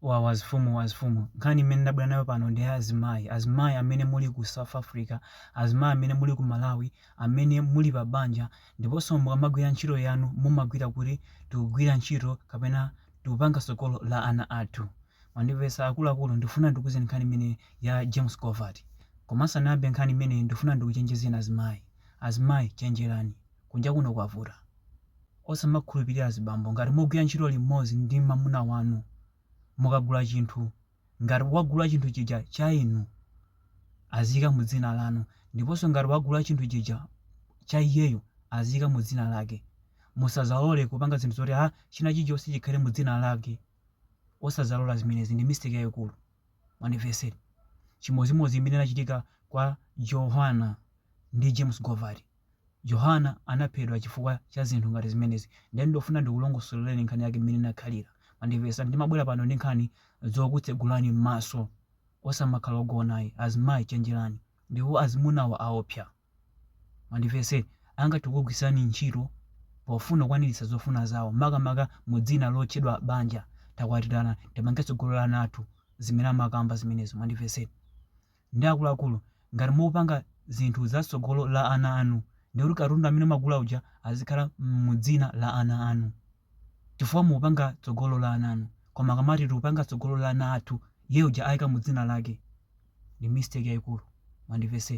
Wawa azifumu azifumu. Nkhani imene ndabwera nayo pano ndi azimayi. Azimayi amene muli ku South Africa, azimayi amene muli ku Malawi, amene muli pa banja ndiponso mukamagwira ntchito yanu mumagwira kuti tikugwira ntchito kapena tikupanga tsogolo la ana athu. Mwandimvetsa akuluakulu? Ndikufuna ndikuuzeni nkhani imeneyi ya James Govati. Koma ndisanayambe nkhani imeneyi ndikufuna ndikuchenjezeni azimayi. Azimayi chenjerani. Kunja kuno kwavuta. Osamakhulupirira azibambo ngati mugwira ntchito limodzi ndi mamuna wanu mukagula chinthu ngati wagula chinthu chija cha inu aziyika mudzina lanu ndiponso ngati wagula chinthu chija cha iyeyo aziyika mudzina lake musadzalole kupanga zinthu zoti china chilichonse chikhale mudzina lake osadzalola zimenezi ndi mistake yayikulu mwandimvetsera chimodzimodzi imene inachitika kwa Johanna ndi James Govati. Johanna anaphedwa chifukwa cha zinthu ngati zimenezi. Ndiye ndifuna ndikulongosolereni nkhani yake mmene inakhalira. Mwandimvetsa? Ndimabwera pano ndi nkhani zokutsegulani m'maso. Osamakhala ogona ayi. Azimayi chenjerani. Ndipo azimunawa aopsa. Mwandimvetse? Angathe kukugwiritsirani ntchito pofuna kukwaniritsa zofuna zawo, makamaka mu dzina lotchedwa banja. Takwatirana, timange tsogolo la ana athu. Zimene amakamba zimenezo. Mwandimvetsera? ndi akuluakulu ngati mukupanga zinthu za tsogolo la ana anu ndiye kuti katundu amene mwagula uja azikhala mu dzina la ana anu chifukwa mukupanga tsogolo la ana anu koma akamati tikupanga tsogolo la ana athu iye uja ayika mu dzina lake ndi mistake yayikulu mwandimvetsa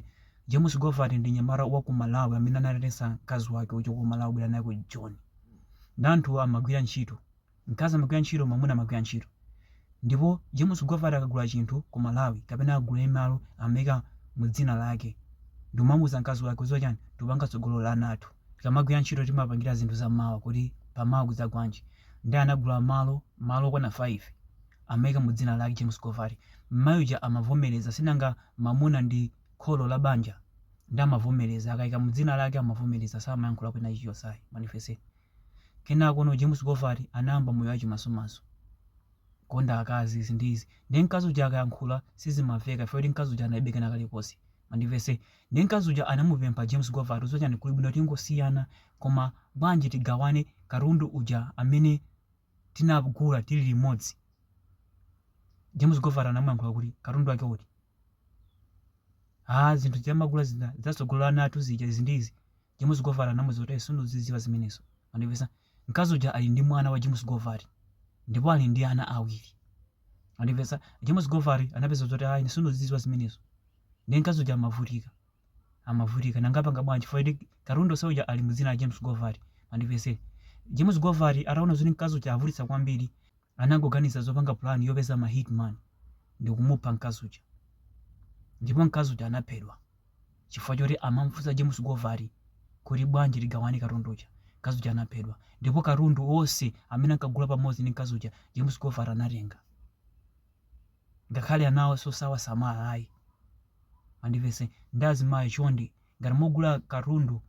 James Govati ndi mnyamata wa ku Malawi amene anatenga mkazi wake kuchoka ku Malawi kubwera naye ku Joni ndi anthu amagwira ntchito Mkazi amagwira ntchito, mwamuna amagwira ntchito. Ndipo James Govati akagula chinthu ku Malawi kapena akagula malo amaika mu dzina lake ndikumamuuza mkazi wake udziwa chani, tikupanga tsogolo la ana athu. Tikamagwira ntchito timapangira zinthu za mawa kuti pa mawa kudzagwanji. Ndiye anagula malo, malo okwana 5 amaika mu dzina lake James Govati. Mmayi uja amavomereza sinanga mamuna ndi kholo la banja ndiye amavomereza akaika mu dzina lake amavomereza samayankhulapo china chilichonse ayi. Mwandimvetsa? Kenakono James Govati anayamba moyo wachimasomaso. Kukonda akazi izi ndi izi. Ndiye mkazi uja akayankhula sizimamveka chifukwa choti mkazi uja analibe kena kalikonse. Mwandimvetse? Ndiye mkazi uja anamupempha James Govati udziwa chani kuli bwino tingosiyana koma bwanji tigawane katundu uja amene tinagula tili limodzi. James Govati anamuyankhula kuti katundu wake uti? Ah zinthu zija timagula zija za tsogolo la ana athu zija izi ndi izi. James Govar anamuuza kuti, Sindikuzidziwa zimenezo. Mwandimvetsera? Mkazi uja ali ndi mwana wa James Govar ndipo ali ndi ana awiri. Mwandimvetsera? James Govar anapeza zoti ayi ine sindikuzidziwa zimenezo. Ndiye mkazi uja amavutika. Amavutika. Nanga apanga bwanji? Chifukwa choti katundu onse uja ali mu dzina la James Govar. Mwandimvetsera? James Govar ataona zoti mkazi uja avutitsa kwambiri, anangoganiza zopanga pulani yopeza ma hitman ndi kumupha mkazi uja. Ndipo mkazi uja anaphedwa. chifukwa choti amamfunsa James Govar kuti bwanji tigawane katundu uja, mkazi uja anaphedwa. Ndipo katundu onse amene ankagula pamodzi ndi mkazi uja, James Govar anatenga. Ngakhale anawonso sakuwasamala ayi. Mwandimvetsera? Ndiye azimayi chonde, ngati mwagula katundu,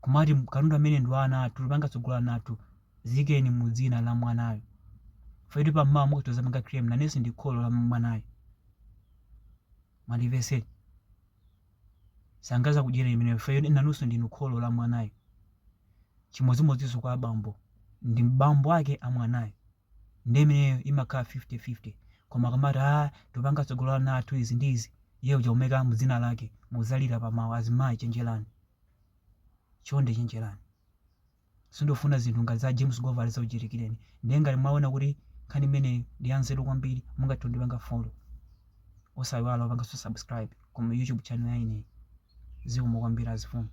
kumati katundu amene ndi wa ana athu, tikupanga tsogolo la ana athu, ziyikeni mu dzina la mwanayo. Chifukwa choti pamawa mukhoza kudzapanga claim nanunso ndi kholo la mwanayo. Mwandimvetsera? Sangadzakudyereni imeneyo chifukwa choti nanunso ndinu kholo la mwanayo. Chimodzimodzinso kwa abambo ndi bambo ake a mwanayo. Ndiye imeneyo imakhala 50-50. Koma akamati, ah, tikupanga tsogolo la ana athu izi ndi izi, iye uja kumuyika mu dzina lake, mudzalira pamawa. Azimayi chenjerani. Chonde chenjerani. Sindikufuna zinthu ngati za James Govar zikuchitikireni. Ndiye ngati mwaona kuti nkhani imeneyi ndi yanzeru kwambiri mungathe kundipanga follow. Osaiwala kupanganso subscribe ku YouTube channel ya ineyi. Zikomo kwambiri azifumu.